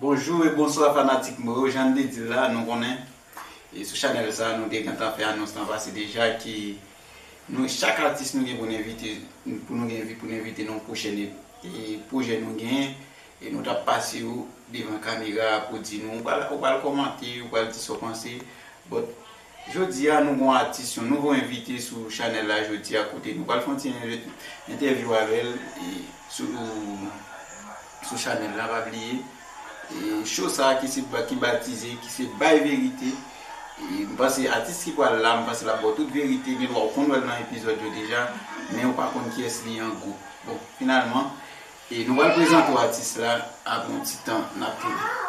Bonjou e bonswa fanatik mwen yo jann te dil la nou konnen e sou chanèl sa nou te gentan fè anons lan pase deja ke nou chak atis nou gen pou n envite pou nou gen pou n envite nan yon pwochèn pwojè nou genyen e nou tap pase yo devan kamera pou di nou ou pral kòmante ou pral di sa w panse but Jodia nou gon atis yon nouvo envite sou chanèl la jodia kote nou pral fè yon ti entèvyou avèl sou chanèl la pa bliye show sa ki batize ki se bay verite m panse atis ki pral la m panse lap baw tout verite gen dwa ou konn wèl nan epizòd yo deja men ou pa konn kiyès li an gwo bon finalman nou pral prezante w atis la apre yon ti tan nap tounen.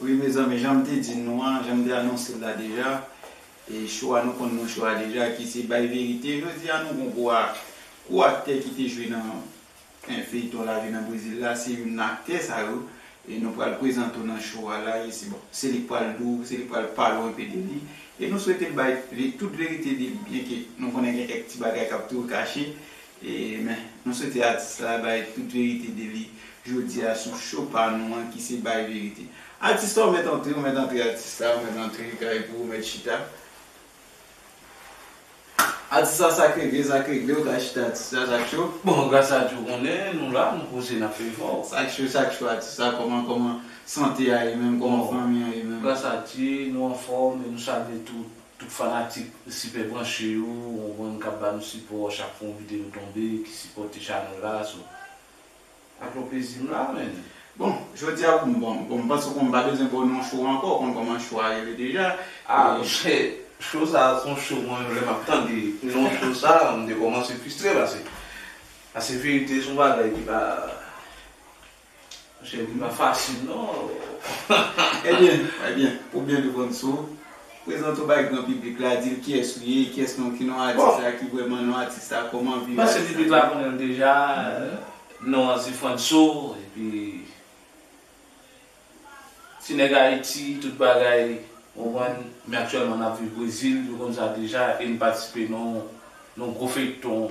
Wi mezanmi jan m te di n nou an, jan m te anonse l la deja, e cho a nou konn non cho a deja ki se bay verite. Jodi a nou gon gwo ak gwo aktè ki te jwe nan feyton lavi nan Brezil la, se youn nan aktè sa yo e nou pral prezante w nan cho a la e se bon se li k pral di w, se li k pral pale w enpe de li e nou swete l bay tout verite de li byen ke nou konnen gen kèk ti bagay k ap toujou kache Amen mwen swete atis la bay tout verite de li jodia sou show pa nou an ki se bay verite atis la ou mèt antre ou mèt antre atis la ou mèt antre kay pou ou mèt chita atis la sak regle sak regle ou ka chita atis la sak cho. Bon gras a Dye ou konnen nou la nou poze nap fè efò. Sak cho sak cho atis la kòman kòman sante a ye menm kòman fanmi an ye menm. Gras a Dye nou anfòm e nou salye tout. Tout fanatik sipè branche yo ou konprann kap ba nou sipò chak fwa yon video tonbe ki sipòte chanèl la so ak yon plezi m la menn. Bon jodia ou m bon bon m panse ou konn m pa bezwen baw non show ankò ou konn kòman show a rele deja Ah monchè show sa a son show mwen menm lè map tande non show sa a m te kòmanse fistre pase pase verite son bagay ki pa. Monchè wi pa fasil non oo. Ebyen, ebyen, ou byen reponn sou. Prezante w bay gran piblik la, di l kiyès ou ye, kiyès non, ki non atis la, ki vrèman non atis la, kòman vi atis la. Panse piblik la konnen m deja, non an se Frantso, epi Ti nèg Ayiti, tout bagay, ou konprann, men aktyèlman n ap viv Brezil, yo konn sa deja, e m patisipe nan yon gwo feyton.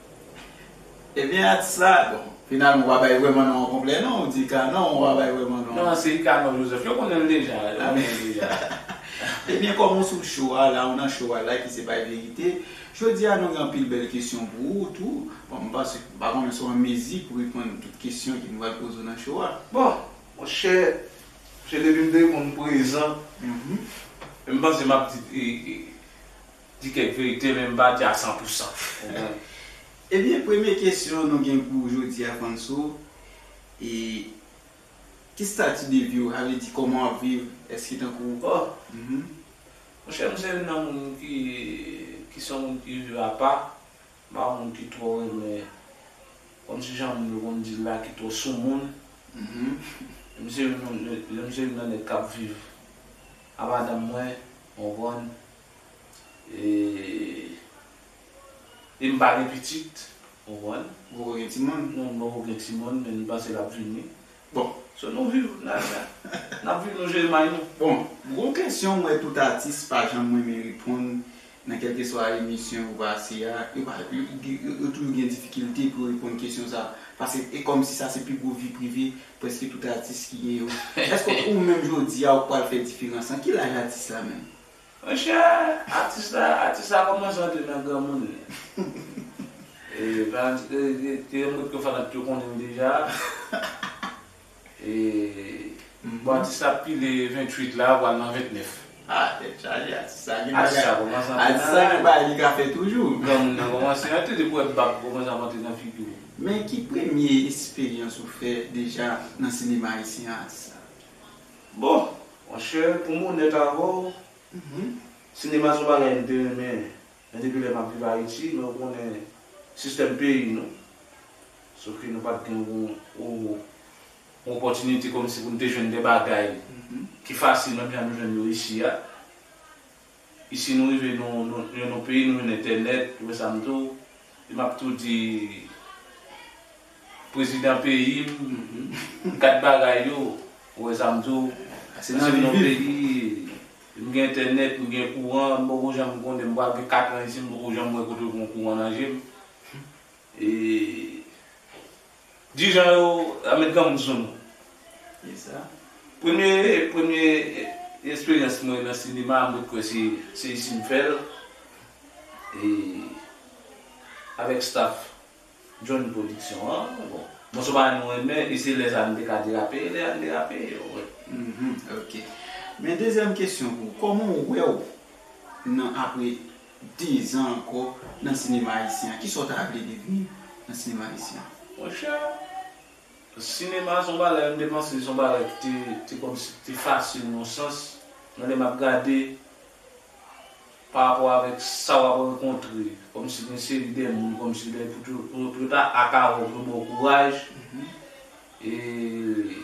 Ebyen atis la, bon, finalman ou pa bay vrèman non an konplè non, ou di Canon, ou pa bay vrèman non an. Non, se Canon Joseph, yo konnen l deja, yo konnen l deja. Ebyen kòm ou sou cho a la, ou nan cho a la ki se bay verite, jodi a nou gen anpil bèl kesyon pou ou tou, bon m panse, m pa konnen si w an mezi pou reponn tout kesyon ki nou pral poze w nan cho a. Bon, monchè, monchè depi m te reponn prezan, m panse m ap di, e, e. Di kèk verite men m pa di a san pou san. Ou konprann? Ebyen premye kesyon nou gen pou jodi a Franso e ki stati de vi w? A vle di kòman w ap viv? Èske tankou Oh! Monchè m se youn nan moun ki ki se yon moun ki viv apa. M pa yon moun ki twò renmen kòmsi jan moun yo konn di l la ki twò soumoun. M se youn nan nèg k ap viv a madanm mwen. Ou konprann? E m pa gen pitit, ou konprann? M poko gen timoun. Non, m poko gen timoun, men m panse l ap vini. Bon, so nou viv, n al la. N ap viv, nou jere may nou. Bon, gwo kesyon m wè tout atis pa janm renmen reponn nan kèlkeswa emisyon yo pase a, yo pa, yo toujou gen difikilte pou yo reponn kesyon sa a. Pase e kòmsi sa se pi gwo vi prive prèske tout atis ki gen yo. Èske ou menm jodi a ou pral fè diferans lan? Ki laj atis la menm? Monchè atis la atis la kòmanse antre nan granmoun li e Valentin te te yon bout ke fanat yo konnen l deja e bon atis la ap pile 28 la pral nan 29. Ah tèt chaje atis sa gen bagay atis sa kòmanse antre nan atis sa gen bagay li ka fè toujou granmoun nan kòmanse antre depi wè bab kòmanse ap antre nan figi w. Men ki premye esperyans ou fè deja nan sinema ayisyen an atis la? Bon! Monchè, pou m onèt avè w, sinema se yon bagay m te renmen men depi lè m ap viv Ayiti, men ou konnen sistèm peyi nou, sof ke nou pa t gen yon opòtinite kòmsi pou n te jwenn de bagay ki fasil menm jan nou jwenn yo isi a. Isi nou rive nou nou yon nou peyi nou yon entènèt ou wè sa m diw e map tou di prezidan peyi m kat bagay yo ou wè sa m diw se nan yon peyi m gen entènèt m gen kouran m poko janm konnen m pral gen 4 an isi m poko janm wè kote yo gen yon kouran nan je m e. Di jan yo a met granmoun sou nou. Ki sa? Premye premye esperyans mwen nan sinema mwen kwè se se isi m fè l e avèk staff John Production an bon mwen son bagay mwen renmen e se lè sa a m te ka derape e lè a m derape ou wè. Hum ok men dezyèm kesyon pou ou kòman ou wè w nan apre 10 ans ankò nan sinema ayisyen an kisa ou ta vle devni nan sinema ayisyen an? Monchè, sinema se yon bagay m te panse se yon bagay ki te te kòmsi ki te fasil nan yon sans, men lè m ap gade pa rapò avèk sa w ap rankontre kòmsi gen seri de moun kòmsi lè pou yo pou yo ta aka wè w pou yo ba w kouraj e.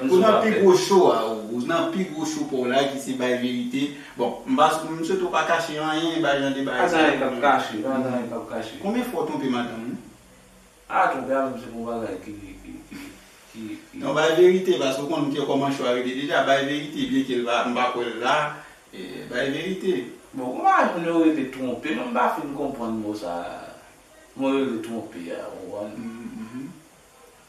Ou nan pi gwo show a ou. Ou nan pi gwo show paw la ki se bay verite. Bon, m pa sou, m swete w pa kache anyen e bay jan de bagay sa yo. Pa gen anyen k ap kache, pa gen anyen k ap kache. Konbyen fwa w twonpe madanm ou? A, twonpe a menm se pou bagay ki, ki, ki, ki. Non bay verite paske ou konn ke kòman show a rele deja. Bay verite byen ke l pa, m pa kwè l la. Bay verite. Bon, gon bagay moun yo rele twonpe menm m pa fin konprann mo sa, mo yo rele twonpe a, ou konprann?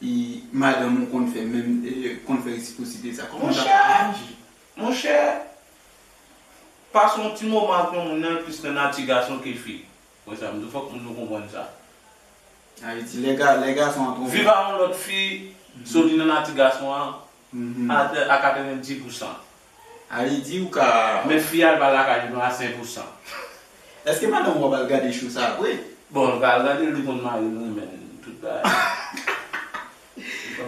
E madanm ou konn fè menm konn fè resiprosite sa kòman tap reyaji? Monchè, pase yon ti moman ak yon moun nan l plis nan nati gason ke fi. Wè sa m di w fòk moun yo konprann sa. Ayiti lè gason an twonpe. Viv a yon lòt fi, soti nan nati gason an a 90 pousan. Aly di ou ka. Men fi a pa lakay li non a 100 pou 100. Eske madanm ou ap al gade show sa vre? Bon li pa al gadel li konn maril renmen tout bagay.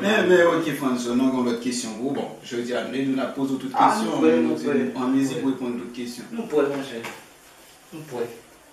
Men ok Frantzson mwen gen lòt kesyon pou ou bon jodi a nou la poze ou tout kesyon ou an mezi pou reponn tout kesyon. Nou prè monchè. Nou prè.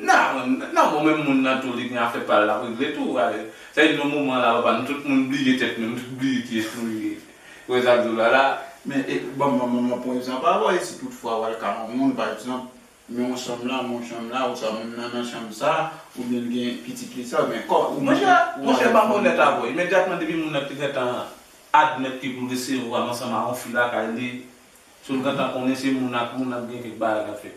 Nan bon menm moun nan tou li gen afè pal lap regle tou sa di nan moman la papa nou tout moun bliye tèt nou nou tout bliye kiyès nou ye wè zak zola la. Men banm banm yon pwen egzanp avè w e si tout fwa wal ka yon moun pa egzanp men yon chanm la men yon chanm la ou sa moun nan nan chanm sa ou byen l gen pitit li sa men kòm ou menm Monchè banm onèt avè w imedyatman depi moun nan te gentan admèt ke poul resevwa m ansanm a yon fi lakay li sil gentan konnen se moun ak moun ap gen kèk bagay kap fèt.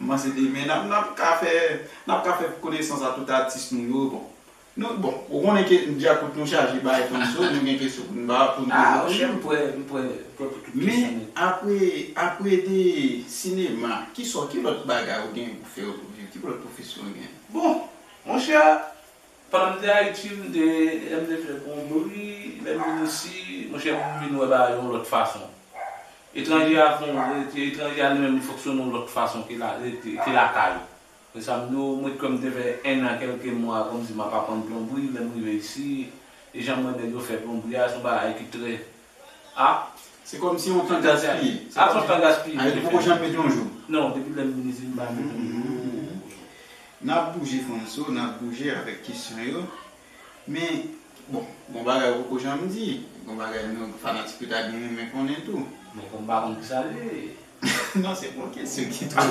M panse demen n ap n ap ka fè n ap ka fè konesans a tout atis nou yo bon nou bon ou konnen ke djakout nou chaje bay panso nou gen kesyon pou n ba pou n poze tou chèf m prè m prè pou tout kesyon men men apre apre de sinema kisa w ki lòt bagay ou gen pou fè ou pou viv ki lòt pwofesyon ou gen bon monchè. Pandan m te Ayiti, m te lè m te fè Konbri, lè m vin isi, monchè m vin wè bagay yon lòt fason. Etranje a fon w rete, etranje a li menm li fonksyone yon lòt fason ke la rete, ke lakay. Se sa m di w, mwen kwè m te fè ennan kèlke mwa kòmsi m ap aprann plonbri, lè m rive isi, e jan m wè nèg yo fè plonbri a, se yon bagay ki trè A, se kòm si yon tan gaspiye. A, son tan gaspiye. A, yo te poko janm met yon jou. Non, depi lè m vin isit m pa met yon jou. N ap bouje Franco, n ap bouje avèk kesyon yo. Men, bon, gon bagay ou poko janm di. Gon bagay nou fanatik yo ta byen renmen konnen tou. Bon, kòm m pa konn kisa l ye. Non, se pa yon kesyon ki twò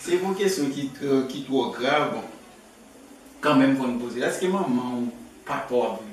Se pa yon kesyon ki twò, ki twò grav, bon. Kanmenm fò n poze l. Èske manman ou, papa w ap viv?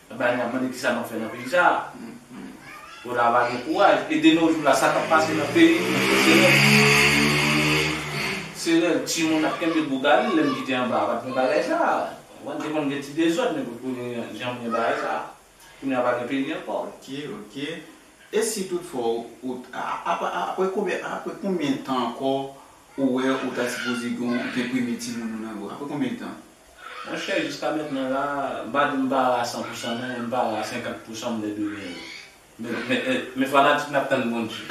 Ebyen nap mande kisa nap fè nan peyi sa. Pona pa gen kouraj e de no jou la sa kap pase nan peyi nou fè serèl serèl ti moun ap kenbe bougali lèm kite anba pat gen bagay sa konprann te konn gen ti dezòd men potko gen janm gen bagay sa kounya pa gen peyi ankò. Ok ok e si tout fwa ou aprè konbyen aprè konbyen tan ankò ou wè ou ta sipoze gen premye ti moun ou nan bra aprè konbyen tan. Monchè jiska mentnan la m pa di m pa ra san pousan non men m pa ra 50 pousan m te dwe genyen l men fanatik nap tann Bondye.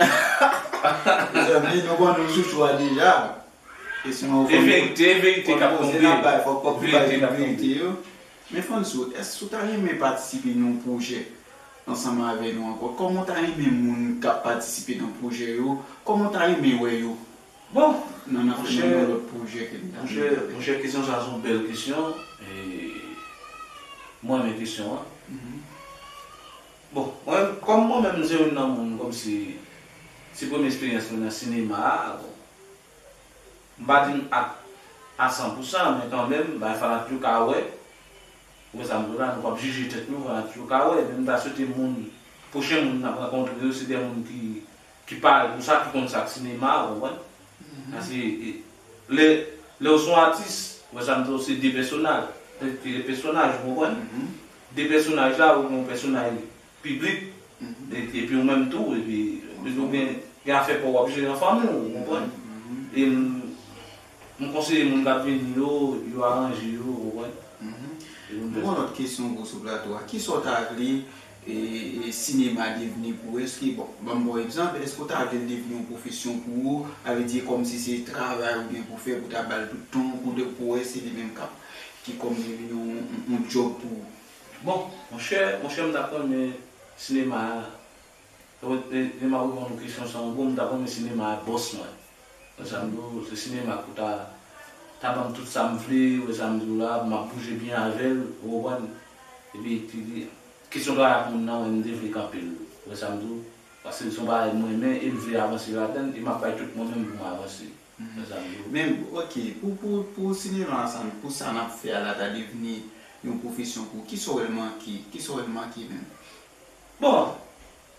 Mezanmi nou konnen ou chouchou a deja e sinon ou konn konn koze nap bay fòk fòk nou bay tout verite yo men Fantsou èske ou ta renmen patisipe nan yon pwojè ansanm avè nou ankò kòman ou ta renmen moun kap patisipe nan pwojè yo kòman ou ta renmen wè yo Bon monchè monchè kesyon sa son bèl kesyon mwen renmen kesyon an bon mwen menm kòm mwen menm se youn nan moun kòmsi se premye esperyans mwen nan sinema a bon m pa di m apt a san pou san men kanmenm bagay fana toujou ka wè ou wè sa m di w la nou pap jije tèt nou fana toujou ka wè men m ta swete moun pwochen moun n ap rankontre yo se de moun ki Ki pa ou sa ki konn sak sinema ou wè paske lè lèw son atis ou wè sam di ou se de pèsonal se de pèsonaj ou konprann de pèsonaj la ou gen yon pèsonay piblik epi ou menm tou epi ou gen gen afè paw wap jere an fanmiw ou konprann e m. M konseye moun kap vini yo, yo aranje yo, ou konprann? Mhmm. M gen yon lòt kesyon gwo sou plato a. Kisa w ta vle sinema devni pou ou? Eske, bon, ban m ba w egzanp, eske w ta vle l devni yon pwofesyon pou ou? A vle di kòm si se travay ou gen pou w fè, pou w ta ba l tout tan w, pou w wè se li menm kap, ki kòm si vin yon djòb pou ou? Bon, monchè, monchè m ta renmen sinema a. Lè map reponn kesyon sa ango m ta renmen sinema a bòs mwen. Wè sam di w se sinema ke w ta ta banm tout sam vle wè sam di w la map bouje byen avèl ou konprann epi kesyon travay ak moun nan wè m te vle kanpe l wè sam di w paske son bagay m renmen em vle avanse ladann e map bay tout mwen menm pou m avanse wè sam di w. Men ok pou sinema a sa pou sa nap fè a la ta devni yon pwofesyon pou w kisa w wè l manke kisa w wè l manke menm. Bon,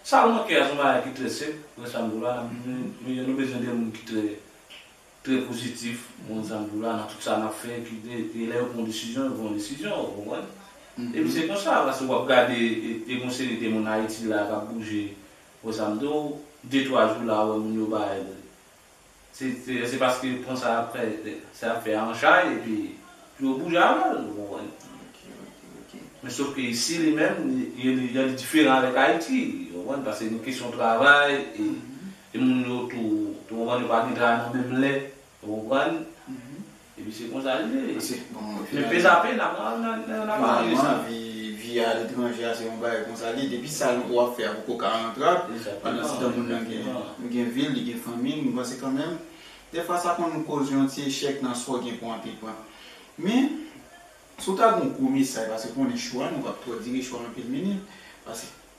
sa ou manke a son bagay ki trè senp, frè Sandro a, mezanmi nou bezwen de moun ki trè trè pozitif, moun Sandro a nan tout sa nap fè ki te lè yo pran yon desizyon yo pran yon desizyon ou konprann? Epi se konsa paske wap gade e gon seri de moun Ayiti la kap bouje, frè Sandro, de twa jou la ou wè moun yo bay Se paske yo pran sa ap fè an chay epi pou yo bouje avè l, ou konprann. Men sof ke isi li menm, jan li diferan avèk Ayiti, ou konprann, paske gen kesyon travay e moun yo tou, ou konprann, yo pa gen travay nan menm lè, ou konprann. Epi se konsa li ye. Se bon. Men pè sa pè nap al nan nap pale de sa. Vi a letranje a se yon bagay konsa li ye. Depi sa wap fè a poko ka rantral. Pandan se tan moun nan gen vil li gen fanmi m panse kanmenm defwa sa konn koz yon ti echèk nan sa w gen pou antreprann. Men si w ta gen yon gwo mesay paske konnen chwa nou pap twò dire chwa anpil minit paske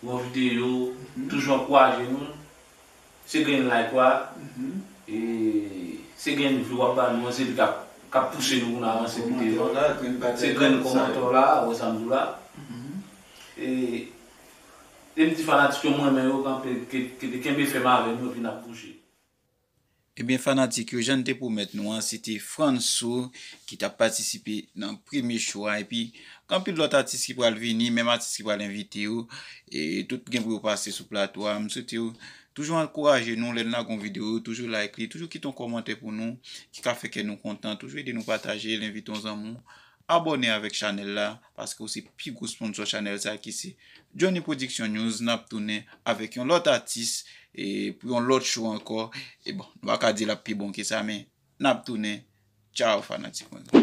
Bon video, toujou ankouraje nou, se grenn like ou a, e se grenn view wap ba nou an se li kap kap pouse nou pou nou avanse pi devan, se grenn komantè w la a, ou wè sam diw la, e em di fanatik yo m renmen yo kanpe, kenbe fèm avèm epi nap bouje. Ebyen fanatik yo jann te pwomèt nou an se te Franco ki tap patisipe nan premye show a epi anpil lòt atis ki pral vini menm atis ki pral envite yo tout gen pou yo pase sou plato a m swete yo toujou ankouraje nou lè n lage yon video yo toujou like li toujou kite yon kòmantè pou nou ki ka fè kè nou kontan toujou ede nou pataje l envite yon zanmi w Abòne avèk chanèl la paske ou se pi gwo sponsò chanèl sa ki se Jhonny Production News nap tounen avèk yon lòt atis e pou yon lòt show ankò e bon nou pa ka di lap pi bon ke sa men nap tounen tchaw fanatik mwen yo.